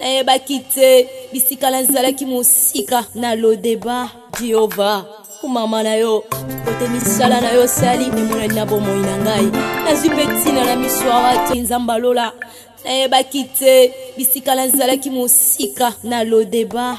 nayebaki te bisika nazalaki mosika na lodeba jehova kumama na yo kote misala na yo sali emonani na bomoi na ngai nazwi mpe ntina na miso ya bato nzambe alola nayebaki te bisika nazalaki mosika na lodeba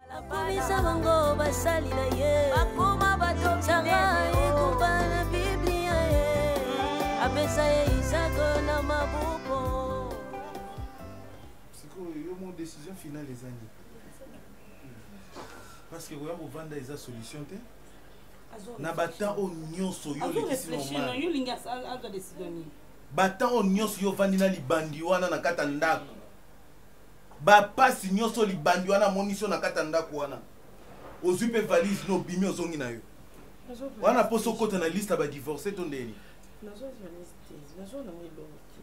Akomisa bango basali na ye bakoma bato nzanga ekumba na biblia ye apesa ye isako na mabuko sikoyo yo mo décision finale eza nini parce que koya kovanda eza solution te na batemp oyo nyonso yo batemp oyo nyonso yo ovandi na libandi wana na kati ya ndako bapasi nyonso libandi wana amonisi yo na kati ya ndako wana ozwi mpe valise no obimi ozongi na yo wana mposa okota na liste ya badivorce to ndeni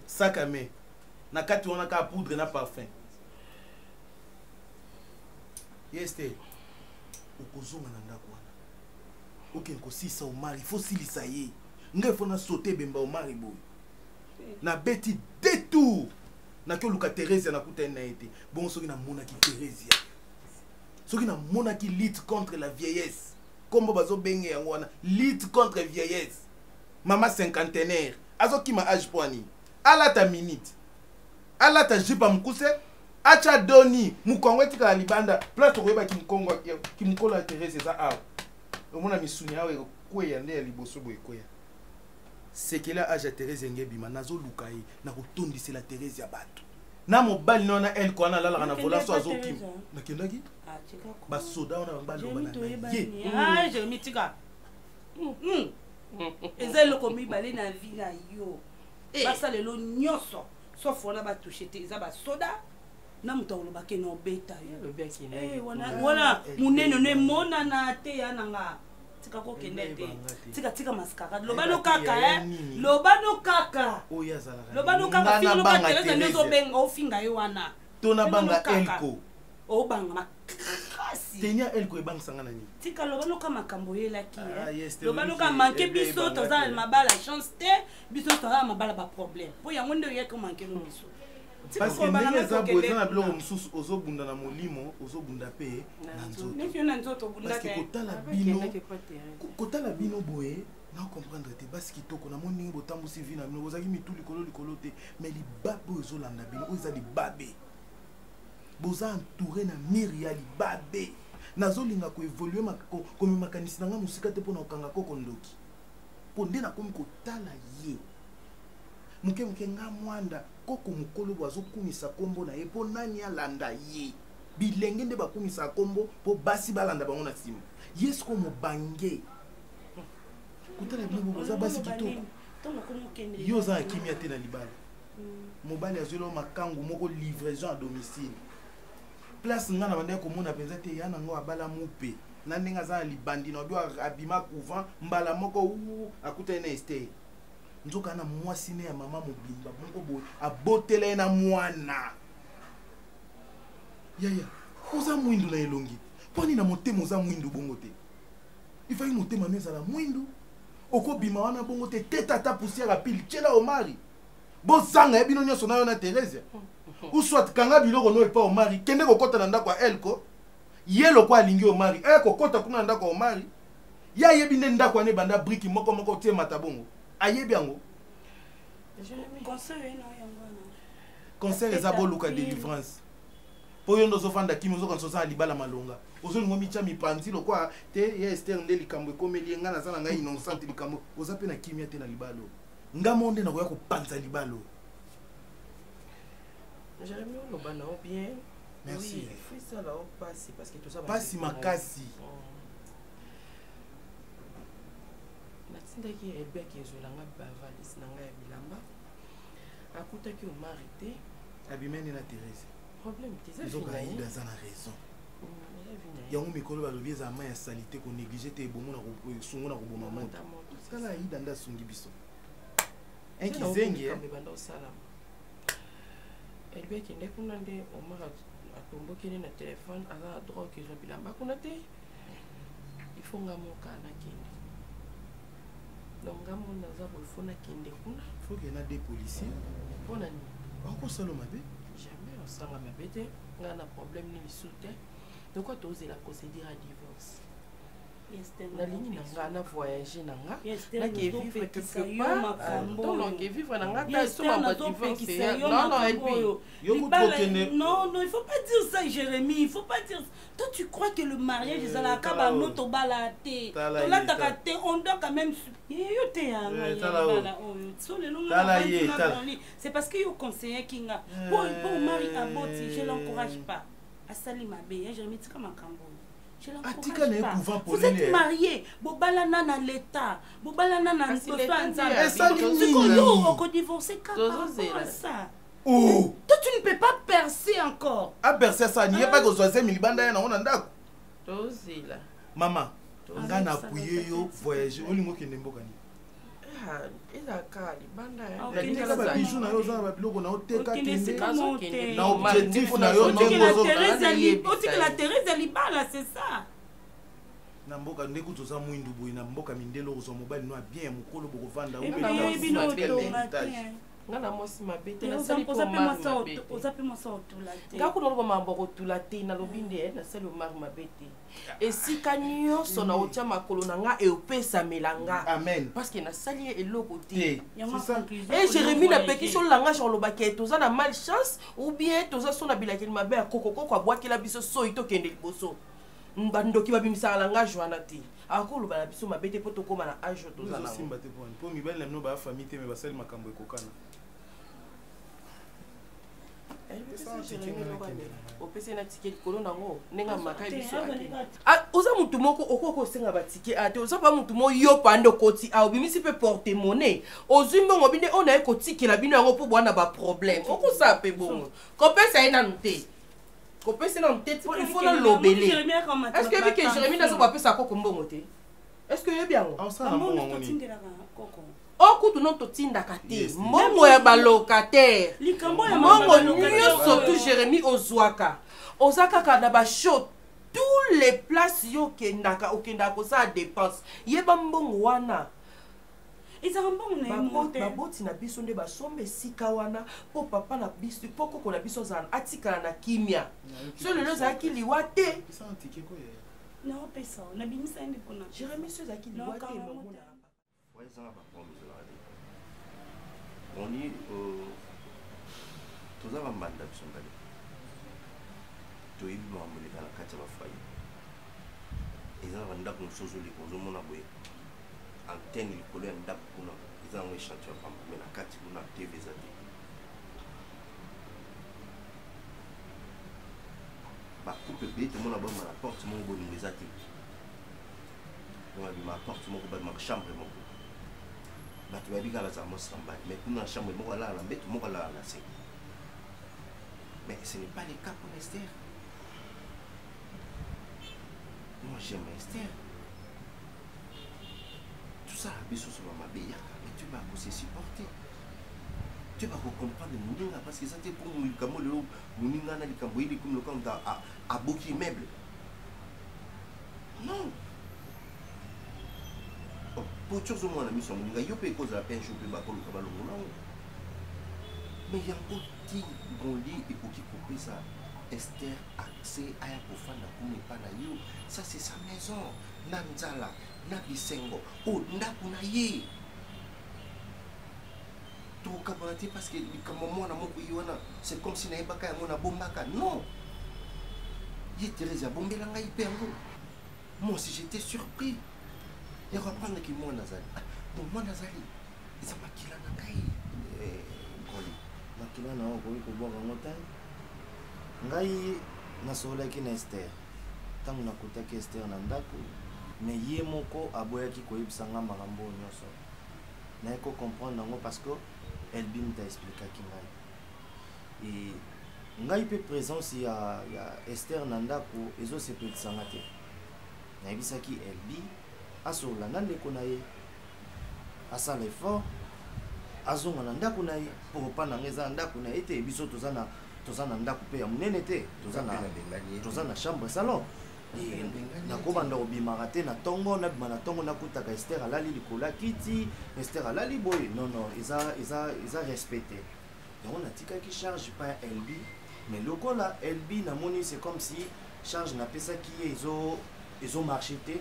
sakame na kati wana kaka poudre na parfum yes te okozonga na ndako wana okende kosilisa omari fo silisa ye ngai fo nasote ebemba omari boye nabeti detour naki oluka theresia nakutani na ye te bongo soki namonaki theresia soki namonaki lutte contre la vieillesse nkombo bazobenge yango wana lutte contre vieillesse mama cinquantenaire azokima age mpo anini alata minute alata jipa mokuse atya doni mokongo etikala libanda place tokoyeba kimkongo kimokolo ya therese eza awa omona misuni awa ekokweya nde ya liboso boye ekweya sekele age ya therese enge ebima nazoluka ye na kotondisela therese ya bato na mobali na wana elko wana alalaka na vola so azokima nakendaki ah, basoda wana bango baloba na ah, hmm. hmm. hmm. eza eloko mibale na vi na yo eh. basala elo nyonso sof wana batushe te eza basoda na moto akolobake na obeta yo eh, wana monene no emonana te ya na nga tika kokende te tika tika mascara loba no kaka eh. loba no kaka loba no kaka filo loba teresa nde ozobenga ofinga ye wana to nabanga elko obanga makasi tenia elko ebangisanga na nini tika loba noka makambo oyelaki eh. ah, loba noka manke biso toza na mabala chance te biso toza na mabala baproblème mpo yango nde oyaki omanke no biso parce que ndenge eza boye eza na biloko mosusu ozobunda na molimo ozobunda mpe na nzotoparceke kotala bino kotala bino boye na comprendre te basi kitoko namoni ndenge botambwisi vi na bino bozalaki mitu likolo likolo te mais libabe oyo ezolanda bino oyo eza libabe boza entouré na mire ya libabe nazolinga koevolue komema makanisi na ngai mosika te mpo na kokanga koko ndoki mpo nde nakomi kotala ye moke moke nga mwanda koko mokolo bo azokumisa nkombo na ye mpo nani alanda ye bilenge nde bakumisaka nkombo mpo basi balanda bango na nsima ye siko mobange kotala bino bo boza basi kitoko yo oza na kimia te na libala mm. mobali azweli yo makangu moko livraison ya domicile place ngai na bandaki komona mpenza te ya nango abala mupe na ndenge aza na libandi na obi abima couvent mbala moko u akutani na estere nzoka na mwasi ne ya mama mobimba moko boye abotela ye na mwana yaya oza mwindu na elongi mponi na motema oza mwindu bongo te ifaki motema no ezala mwindu okobima wana bongo te te tata poussière ya pile tyela omari bozanga ye bino nyonso nayo na theresia uswat kanga biloko no epa omari kende kokɔta na ndako ya elko ye lokwa alingi omari e eh, kokɔta kuna na ndako ya omari ye ayebi nde ndako wana ebanda briki moko moko te emata bongo ayebi yango conseil eza boluka délivrance mpo yo nde ozofanda kimi ozokanisa oza na libala malonga ozolingo mitya mipanzi lokwa te ye ester nde likambo ekomeli ye ngai naza na ngai innocente likambo oza mpe na kimia te na libala oyo ngai moo nde nakoya kopanza libala oyo jeremi oloba na yo bien merci oui, makasi oh. natindaki rebek ezwela nga bavalise na ngai ya bilamba akutaki omari te abimani na therese problème te eza nzoka aida aza na raison mm, yango mikolo balobi eza ma ya salite konéglige te ebongo na sungo na koboma moto tala aida nde asungi biso enkizengi ebanda osalama elobi akende kuna nde omar atombokeli na telefone aza na drogue ezwa bilamba kuna te ifo nga moka nakende donc nga moni naza boye fo nakende kuna foke na de policier mpo na nini bakosala mabe jamais osanga mabe te nga na problème nini su te lokola tozela procédure ya divorce nalingi na nga na voyage na nga nakevivre quelque parttolonge vivre na nga ta esomama divorceono il faut pas dire ça jérémie il faut pas dire ça Toi tu crois que le mariage euh, ezalaka ba no tobala te tolataka te on doit quand même yo te yanga euh, yala oyo so lelo nga na dans lit c'est parce que yo conseiller ki nga euh. po po mari aboti je l'encourage pas asali mabe ya je mitika makambo atika na ye couvent polele marie bobalana na leta bobalana na nzambe esali nini okodivorce kaka ça oh. toi tu ne peux pas percer encore aperce ah, asani ye pake ozwa zemi libanda ya nango na ndako tozela mama nga na apuye yo voyage olingi okende mboka nini ah, ezalaka libanda ah, babiju na yo oza na babiloko na oteka kende na objectif na yo otikela terese ya libala c'est ça na mboka nde kutu oza mwindu boye na mboka mindele okozwa mobali no ya bien ya mokolo bokovanda nga na mwasi mabe te nasali mpo omari mabe te oza mpe mwasi otula te nga kuna oloba makambo akotula te nalobi nde eh, nasali omari mabe te esika nyonso na otya makolo na nga eopesamela nga parce que nasali ye eloko te e jérémi napekisi olangage olobaki ete oza na mal chance ou bien toza so na bilakeli mabe ya kokokoko abwakela biso soi tokende liboso bandoki babimisaka langage wana te akoloba na biso mabe te mpo tokóma na age oyo toza nasimba te poni mpo mibali na bino baya famille te me basali makambo ekokana opesi na tike likolo nango ndenge amakai biso oza motu moko okoki kosenga batike a te oza pa motu moko yo pande okoti a obimisi mpe porte monnaie ozwi mbongo binde oyo naye kotikela bino yango mpo bwana baproblème okosala mpe bongo kopesa ye nanu te kopesa na moteti po ifo na lobele est ce que oyebi ke jérémie nazoba apesa koko mbongo te est ce que oyebi yango okutu no totindaka te mbongo ya balocataire mbongo nyonso tu jérémie ozwaka oza kaka na bashow tous les places yo okendaka okendaka kosala dépense yeba mbongo wana ezalaka mbongo na ye moko te baboti na biso nde basomba esika wana mpo papa na biso mpo koko na biso azala atikala na kimia so lelo ezalaki liwa te naopesa nabimisa ye nde mpona jeremi so ezalaki liwa te mamona ezanga bapromi ezalaka te oni euh, toza bambanda biso mbale toyebi makambo eleka na kati ya bafoye eza na bandako mosusu ozoleka ozomona boye antenne likolo ya ndako kuna eza yango echantion ya pamba me na kati kuna tv eza te bakupe beye tomona bama na porte moko bolingo eza te bima porte moko babima chambre moko bato bayebi kaka bazala mosambani mais kuna na chambre moko alala na mbeto moko alala na se mais ce n'est pas le cas pour ester moi j'aime ester tosala biso solo mabe yaka mais tu vas se supporter te bakocomprendre moninga parce que eza te mpo likambo lelo moninga na likambo yeli komi lokola moto aboki meuble non poci ozomona miso ya moninga yo mpe ekozala mpe jour mpe bakoluka balongo na yango mais yango ti bolie ekoki kopesa Esther accès à Yakofana Kunepa na yo. Ça, c'est sa maison. na nzala na bisengo o ndako na ye tokabana te parce que likambo mwana moko ye wana c'est comme si nayebaka yango nabombaka non ye therese abombela ngai mpe yango moi aussi j'étais surpris ya koapprendre ki mwana azali ah, bon mwana azali eza makila na ngai eh, nkoli makila na yo okoki kobwaka yango te ngai nasololaki na estere Ntango nakutaki Esther na ndako, mais ye moko aboyaki koyebisa nga makambo oyo nyonso. Naye ko comprendre yango parce que Elbim ta explikaki ngai. Et ngai mpe présence ya, ya ester na ndako ezosepelisa nga te nayebisaki elbi asolola na ndeko na ye asala effort azonga na ndako na ye mpo kopa na nga eza na ndako na ye te biso toza na toza na ndako mpe ya monene te toza na toza na chambre salon nakobanda kobimaka te na ntongo nabima na ntongo nakutaka ester alali likolo ya kiti ester alali boye non non eza eza eza respect te yango natikaki charge pa ya elbi mais lokola elbi namoni c'est comme si charge napesaki ye ezo ezo marche te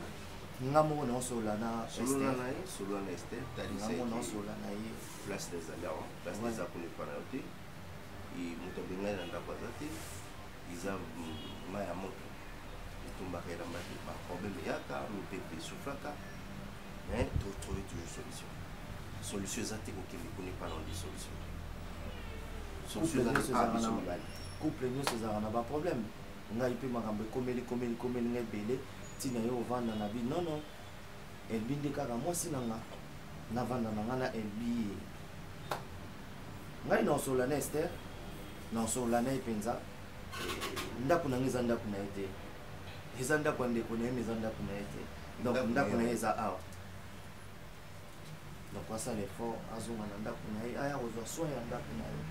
nga moko naosolola na esternga moko naosolola na ye place ezali awa place eza kolepa na yo te moto abengani na ndako aza te eza mai ya moto etumbaka elamba te baproblème eyaka mipepe esuflaka mais totrouve toujours solution solution eza te kokende kuna epa nonde solution couple nyonso ezalaka na baproblème ngai mpe makambo ekomeli komeli komeli nga ebele ntina yo ovanda na bi nono elbi nde kaka mwasi na nga navanda na nga na elbi ye ngai naosolola na ester naosolola na ye mpenza ndako na ngai eza ndako na ye te eza ndako ya ndeko na ye me eza ndako na ye te donc ndako na ye eza awa donc asala effort azonga na ndako na ye aya kozwa soin ya ndako na ye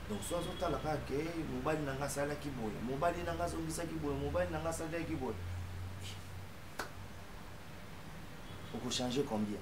donc so azotala kaka ke mobali na ngai asalaki boye mobali na ngai azongisaki boye mobali na ngai asalaki boye okochange combien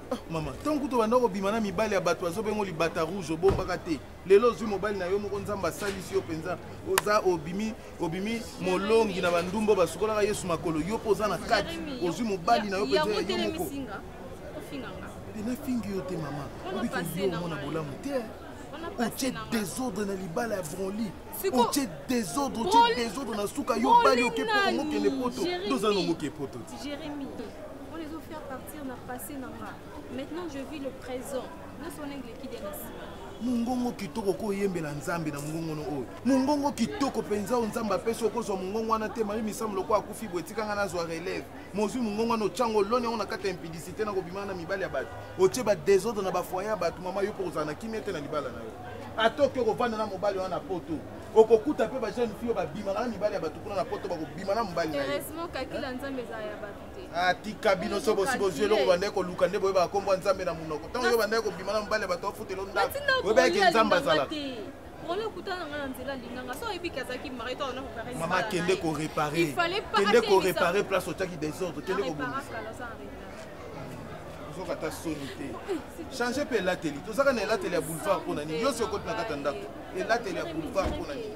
Ah, mama ntango kutu obanda kobima na mibali ya bato azobengo libata rouge obombaka te lelo ozwi mobali na yo moko nzambe asalisi yo mpenza oza obimi obimi molongi na bandumbo basukolaka yesu makolo yo mpo oza na kati ozwi mobali na yo mpenza ya yo moko te nafingi yo te mama obiki oyo omona bolamu te otie desordre na libala ya bronli otie desordre otie desordre na suka yo bali oke mpo ongokende poto toza na ongoke poto te wana ezo faire partir na passé na nga maintenant je vis le présent nyonso wana eleki de na nsima mongongo kitoko oko oyembela nzambe na mongongono oyo mongongo kitoko mpenza oyo nzambe apesi okozwa mongongo wana te mari misamu lokola akufi boye etika ngai nazwa relève mozwi mongongo wana otyango oloni yango na kati ya impidicité na kobimana na mibali ya bato otye badesordre na bafoye ya bato mama yo mpo kozala na kimia te na libala na yo ata oke okofanda na mobali wana na poto okokuta mpe bajeune fille oyo babimaka na mibali ya bato kuna na poto bakobima na mobali na ye atika ah, bino so bosi bozwi eloko bandai koluka nde boyebaka nkombo ya nzambe na monoko ntango yo bandai kobima na mobali ya bato afutelo ndako oyebaki nzambe azalaka mama kende korepare kende korepare place otyaki desordre kende kobongisa ozoka ata soni te change mpe elateli tozaka na elateli ya boulevard mpo na nini yo soki okoti na kati ya ndako elateli ya boulevard mpo na nini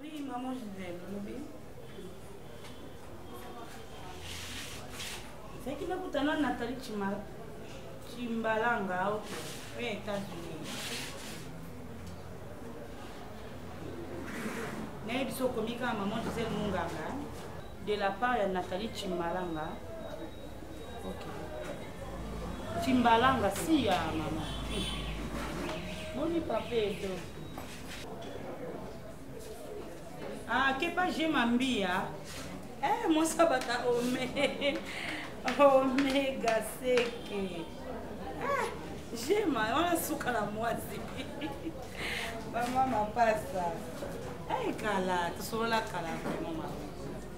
Oui, maman Gisèle, olobi. Ezalaki nakutana na Nathalie Chimala. Chimbalanga au États-Unis. nayebi so okomi kaka maman gisele monganga de la part ya nathalie chimbalanga Timbalanga si ya mama. Boni papa edo. Ah, kepa je mambia. Eh, mon sabata ome. Omega seke. Ah, je ma wana suka na mwasi. Mama mapasa. Eh, kala, tosolola kala vraiment mama.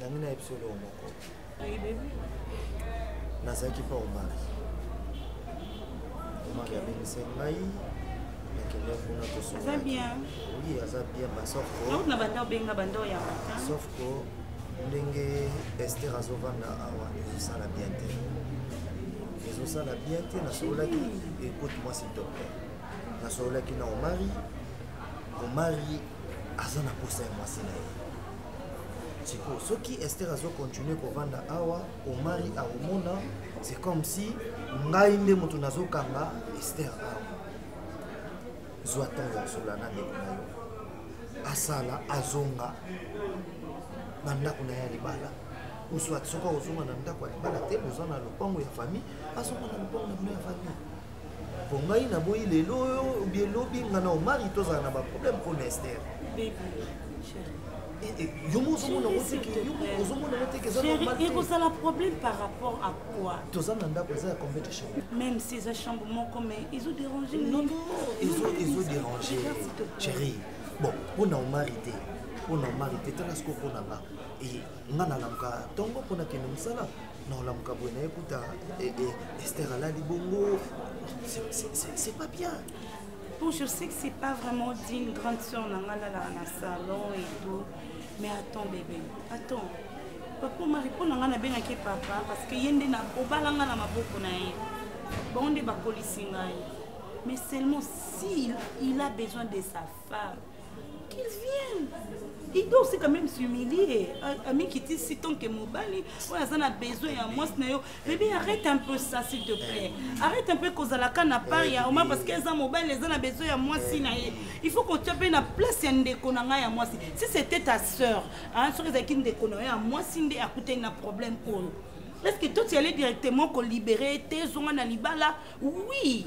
nami nayebi solo moko nazalaki mpo omari omari abengisaki ngai nakende kuna tosoaza bien oui aza bien ba sauf na banda obenga banda oyamba sauf ko ndenge ester azovanda awa ezosala bien te ezosala bien te nasololaki ekote mwasi dope nasololaki na omari omari aza na posa ya mwasi na ye sikoyo soki ester azokontinue kovanda awa omari akomona c'est comme si ngai nde moto nazokanga ester awa zwa ntango ya kosola na ndeko na yo asala azonga na ndako na ye ya libala oswat soki akozonga na ndako ya libala te boza na lopango ya famille azonga na lopango na bino ya famille po ngai naboyi lelo oyo obie lobi nga na omari tozala na baproblème mpo na ester yo mo ozomona ngo teke yo mo ozomona ngo teke eza normal ekozala problème par rapport à quoi toza na ndako eza ya combien de chambre même si eza chambre moko mais ezo déranger non non ezo ezo déranger chérie bon mpo na omari te mpo na omari te tala sikoyo mpo na nga nga nalamuka ntongo mpo nakende mosala naolamuka boye naye kuta e, e, ester alali bongo c'est pas bien bon je sais que c'est pas vraiment dit une grande soeur na nga alalaka na salon et tout mais attends bébé attends papa mari mpo na nga nabengaki papa parce que ye nde obala nga na maboko na ye bango nde bakolisi ngai mais seulement s'il il a besoin de sa femme qu'il vienne il doit aussi quand même s'humilier amikitisi tant que mobali oyo aza na besoin ya mwasi na yo bebe arrête un peu ça s'il te plaît arrête un peu kozalaka na part ya oma parce que eza mobali eza na besoin ya mwasi na ye il faut kotia mpe na place ya ndeko na ngai ya mwasi si c'était ta sœur soki ezalaki ndeko na yo ya mwasi nde akutani na problème oyo est ce que toi tu allais directement kolibere te zonga na libala oui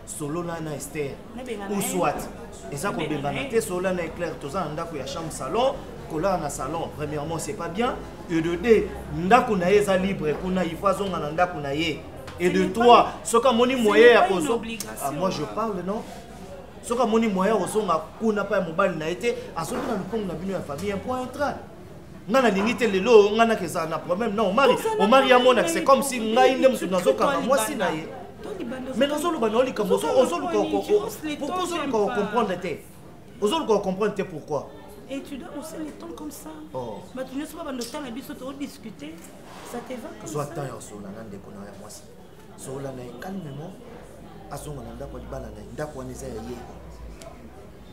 solola na ester ou soit eza kobengana te solola na eclair toza na ndako ya chambre salon kolala na salon premièrement c'est pas bien et de deux ndako na ye eza libre kuna il faut azonga na ndako na ye et de trois soki amoni moyen ya kozo ah, moi je parle non soki amoni moyen ozonga kuna mpa ya mobali na ye te azongi na lopango na bino ya famille mpo intra nga nalingi te lelo oyo nga naka ezala na problème na omari omari amonaka c'est comme si ngai nde mosusu nazokanga mwasi na ye mais nazoloba na yo likambo ozoluka pourquoi ozoluka kocomprendre te ozoluka kocomprendre te pourquoi Et tu dois aussi le temps comme ça. Oh. Mais tu ne sais pas dans le temps, mais tu dois discuter. Ça te va comme Soit ça. Soit temps, on a un déconnant à moi. Soit on a calmement, à son endroit, on a un endroit, on a un endroit, on a un endroit,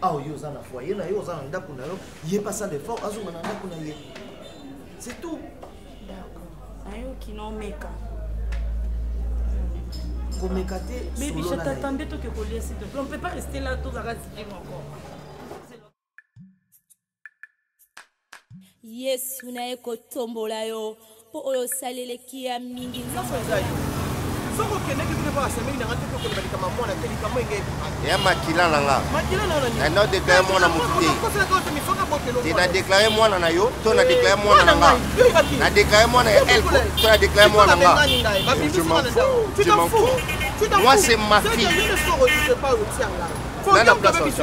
awa yo oza na foyer na yo oza na ndako na yo ye mpe asala effort azonga na ndako na ye c'est tout nayoki nomeka komeka te bebi je t'attendais toke kolia s'il te plaît on peut pas rester là tozaka zikima encore yesu na ye kotombola yo mpo oyo osali eleki ya mingi soki okendeki bino mpo asemeli nanga te tokoloba likama mwana te likama enge ya makila na nga na na deklare mwana motu te te na deklare mwana na yo to na eh, deklare mwana na nga na deklare mwana ya elko to na deklare mwana na nga moi c'est ma fille nana place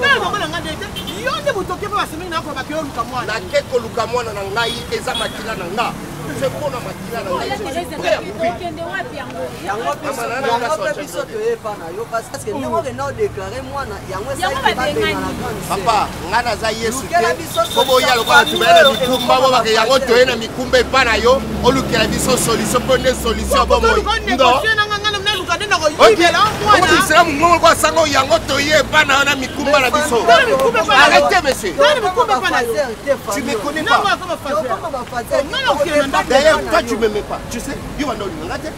tala mama na ngai nde te yo nde moto oke mpe basemeli na akola bake oluka mwana nake koluka mwana na ngai eza makila na nga se mpo na makila na ngai yango mpe biso toyepa na yo parceke ndenge okenda odeklare mwana yango esalaki babenga na grande papa ngai naza yesu te po boya lokola bato baya na mikumba bo bake yango toye na mikumba epa na yo olukela biso solution mpo nde solution ya bomoi isilamu ngongo kwa sango yango toye epa na yo na mikumba na biso arrete monsieur tu me connais pas d'ailleurs toi tu m'aimais pas tu sais yo banda olinganga te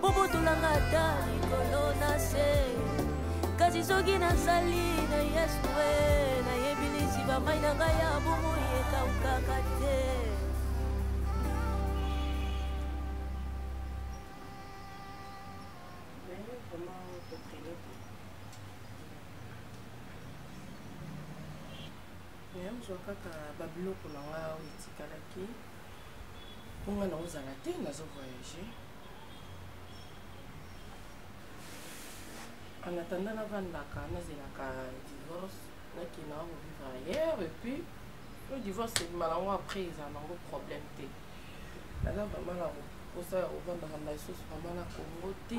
bobotolanga ata likolo na se kasi soki nazali na yesu e nayebi liziba mai na ngai ya bomoi ekaukaka te naye ozwa kaka babiloko na ngai oyo etikalaki mpo nga naozala te nazo voyage en attendant navandaka nazelaka divorce nakenda yango vivre ailleurs et puis le divorce ebima nango après eza nango problème te naza vraiment na mposa ya kovandaka na lisusu vraiment na congo te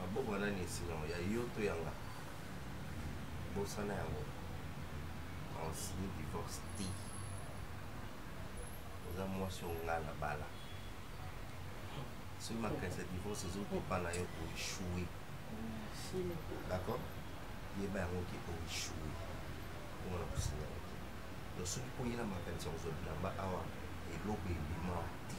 maboko ya nani esinga ya yo to ya nga bosana yango onsini divorce te oza mwasi oyo nga na bala soki makanisi ya divorce ezokipa na yo oeshue d'accord yeba yango ke oeshue omona kosinga yo te donc soki oyela makanisi ya kozwa bilamba awa eloko ebima te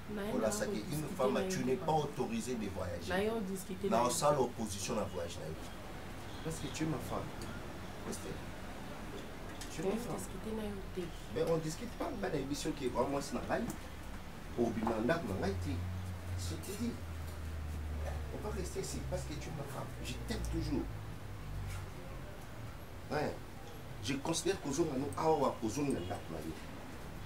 olasaki une femme tu n'es pas autorisé de voyager na osala opposition na voyage na yo parce que tu es ma femme Estelle tu es ma femme mais on discute pas ngai nayebi soki ekwa mwasi na ngai obima ndako na ngai te sotidi on va rester ici parce que tu es ma femme je t'aime toujours hein je considère kozonga no awa kozonga ndako na yo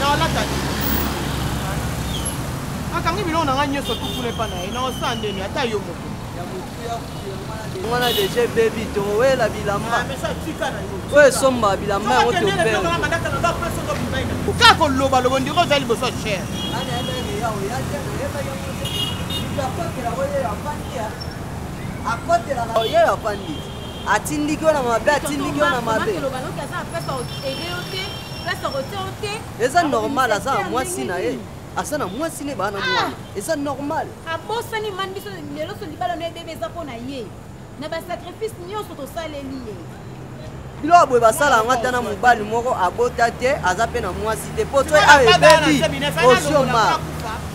nalataki nakangi biloko na ngai nyonso tukuna epa na ye naosala ndeni ata yo moko wana deja ebebi towela bilamba ah, oyo esomba bilamba yango topeoka koloba lobo ndiko oza liboso cher akotelaka oyo afandi atindiki yo na mabe atindiki yo na mabe place akotia yo te eza normal aza na mwasi na ye aza na mwasi ne bana mwana ah! eza normal abosani mani biso lelo so libala no ebebe eza mpo na ye na basacrifice nyonso tosaleli ye biloko boye basala yango ata na mobali moko abota te aza mpe na mwasi te mpo to ayo ebebi osioma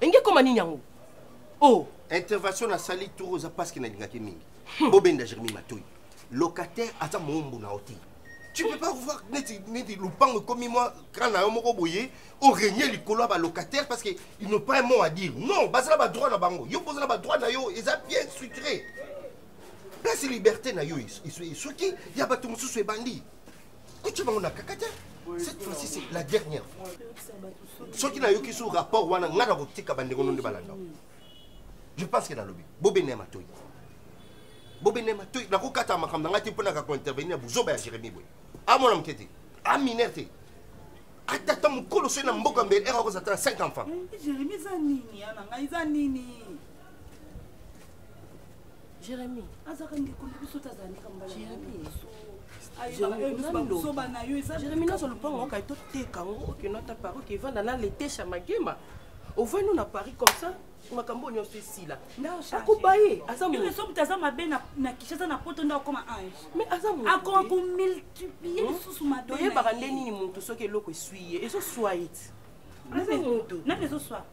enge ekoma nini yango o oh. intervention nasali tour oza paske nalingaki mingi hmm. bobenda jeremi matoi locataire aza moombo na yo te tu peux pas voir neti neti lupango ekomi mwa kran na yo moko boye oregne likolo ya balocataire parce que ils n'ont pas un mot à dire non baza na badroit na bango yo mpoza na badroit na yo eza bien structuré place liberté na yo esoki ya bato mosusu ebandi kotya bango na kaka te cette fois-ci c'est la dernière fois soki nayoki sur rapport wana ngai nakotika bandeko no nde balanda je pense ke nalobi bobene ya matoi bobene ya matoi nakokata makambo na ngai te mpo naka kointervenir ya buzoba ya jérémi boye amona moke te aminer te ata ata mokolo soki na mboka mbele ere akozala ata na 5 enfant jérémi azaka ndeko na biso tazala ndeka mbalazoba na yo jérémi nazo lopango okai toteka ngo okino ata pari oke evanda na letesha magema ovandi no na paris comme ça makambo oyo nyonso esila akoba ye azasomutu aza mabe na kinshasa na poto nde akoma ange mais azaakoma komultiplier hmm? lisusu mabe toyebaka nde nini motu soki eloko eswi ye ezoswa ye ti aza motu nani ezoswa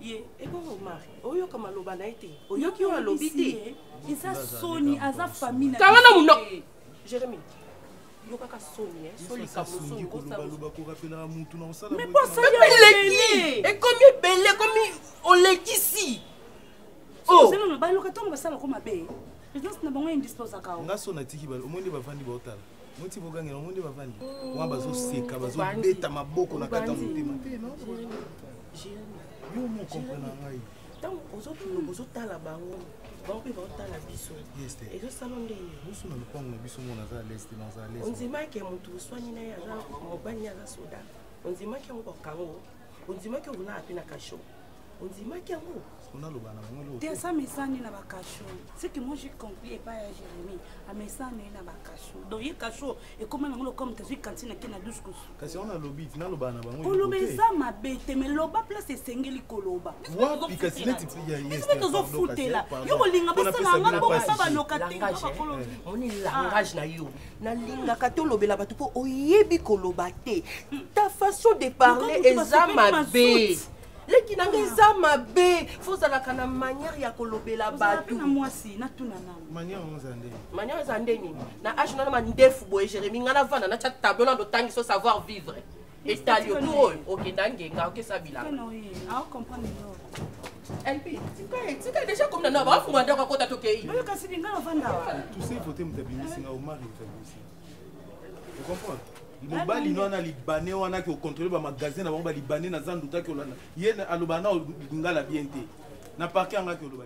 ye ebongo omar oyoka maloba na ye te oyoki oyo alobi te eza soni aza famille kanga na muno jeremi yokaka soni eh, soni kamosomi kosaleleki ekomi ebele ekomi olekisi ozela na baloka ntango basala ko mabe présence na bango indispose akao nga so natiki omoni nde bavandi baotala moti bogangela yango nde bavandi wana bazoseka bazobeta maboko na kata motema te yo mokomprena ngai ntango ozokoloba ozotala bango bango mpe baotala biso ezosala ndenge biso na lopango na biso mona aza leste na aza leste ondimaki ya motu oswani na ye aza mobali aza soda ondimaki yango bakango ondimaki okolala mpe na kashoka ondimaki yango onaloba na bango te asa mesani na bakasho ce que moi j'ai compris epai ya jérémie amesani na bakasho donc ye kasho ekoma nango lokome tazwi kantine ake na douce kosu kasi wana alobi ti naloba na bango koloba eza mabe te me loba place esengeli koloba wapi kasi neti biso tozofutela yo kolinga basalanga bongo sa baloka te bakolobi moni langage na yo nalingaka tolobela bato mpo oyebi koloba te ta façon de parler eza mabe leki nanga ah. eza mabe fo ozalaka na manière ya kolobela bato manière eza nde nini na age nana mandefu boye jérémi ngai navanda natya tableau nando tangi so savoir vivre etali yo tour oyo okenda ngenga okesa bilanga lp tika ye tika ye deja komina na bafunga ndako akota tokei oyo kasi linga nafanda tuse vote moto abimisi nga omari moto abimisi ocomprendre mobali no wana libane wana ki ocontrole bamagasin na bango balibane naza ndutaki olanda ye aloba na lingala bien te na parke yangaki oloba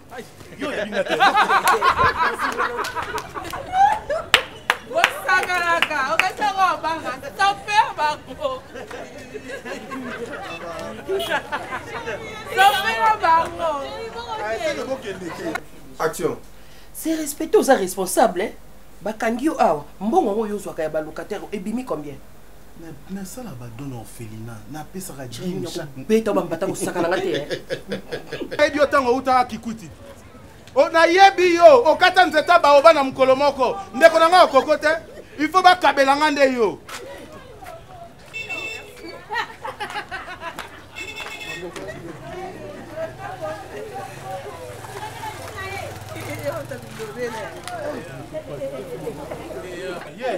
bosanganaka okati yango obanga soper bango sopera bango action se respecte oza responsable eh? bakangi yo awa mbongo yango oyo ozwaka ya balocataire ebimi combien nasala badon na orphelina napesaka beta bambata kosakana nga te ebi yo ntango outaka kikwiti nayebi yo okata nzeta baoba na mokolo moko ndeko na ngai okoko te il faut bakabela ngai nde yo Yeah.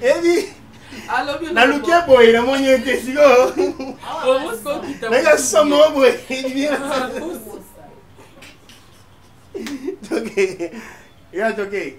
ebi naluki boye namoni ye te sikoyo nanga somo boye toke ya toke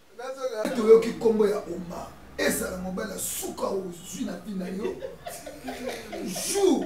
toyoki nkombo ya omar ezala mobali ya suka ozwi na vi na yo jour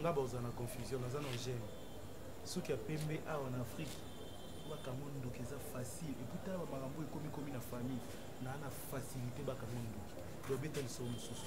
nga baoza na confusion naza na gene soki ya pembe awa na afrike bakango ndoki eza facile eputala bamakambo ekomikomi na famille naa na facilité bakango ndoki dobeta lisolo mosusu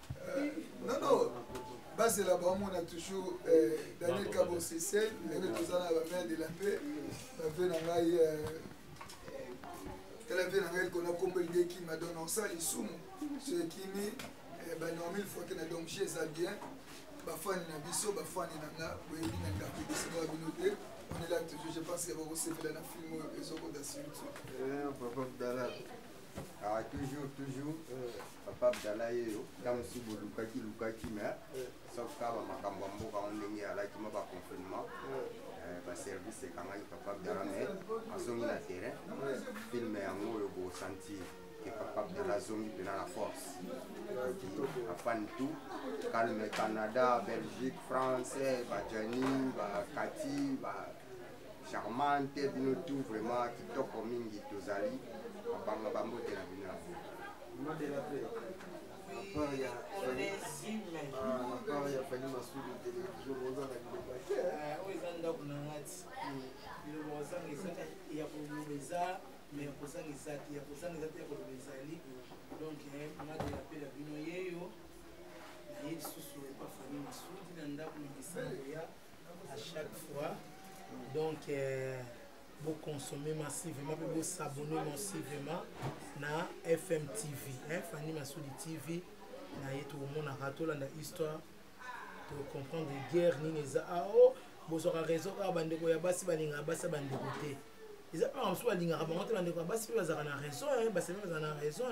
Euh, non, non. bazela bamona toujours euh, daniel kabosese ndenge toza na bamere de la paix bave na ngai euh, tala vie na ngai likona nkombo elingi ekima donc naosala lisumu so ekimi eh, banormil fote na donc je eza bien bafani na biso bafani na nga boyebi na ndako ebisingaa bino te on est là toujours je pense ya bakosepela na film oyo ezokota surtout eh, Ah, toujours, toujours, euh, papa Abdallah yeyo, ntango si bolukaki lukaki me sauf kaka makambo ya mboka yango ndenge alaki ma baconfinement euh, baservice ekangaki papa Abdallah me azongi na terrain filme yango oyo bosantir que papa Abdallah azongi mpena na force oki afani tout calme canada belgique france bajani bakati ba, charmante bino tout vraiment kitoko mingi tozali babanga bambote na bino ya mboka part ya na part ya fani masudi television boza na biloko te oyo eza ndako na ngati biloko ozanga eza ya koloba eza mais ya kozanga eza te ya kozanga eza te ya koloba ezali donc ngati ya pela bino yeyo naye lisusu epa fani masudi na ndako na misango ya à chaque fois donc euh, vous consommez massivement vous vous s'abonner massivement na FM TV hein, Fanny Massoudi TV na ye tokomonaka tolanda histoire tocomprendre guerre nini eza ah, oh, bozwaka réseau kaka bandeko ya basi balingaka basi ya bandeko te eza mpe mosusu balingaka bango te bandeko ya basi mpe bazalaka na raison basali bazala na raison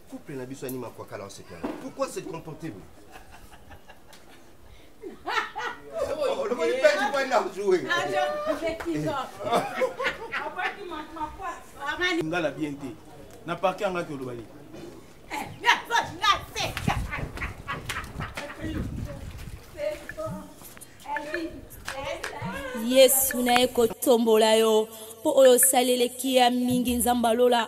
couple na biso anima kwa kala oseka pourquoi se comporter vous olobaki mpe kipai na joue nga na bien te na parke angaki oloba leki yesu naye kotombola yo mpo oyo osaleleki ya mingi nzambe alola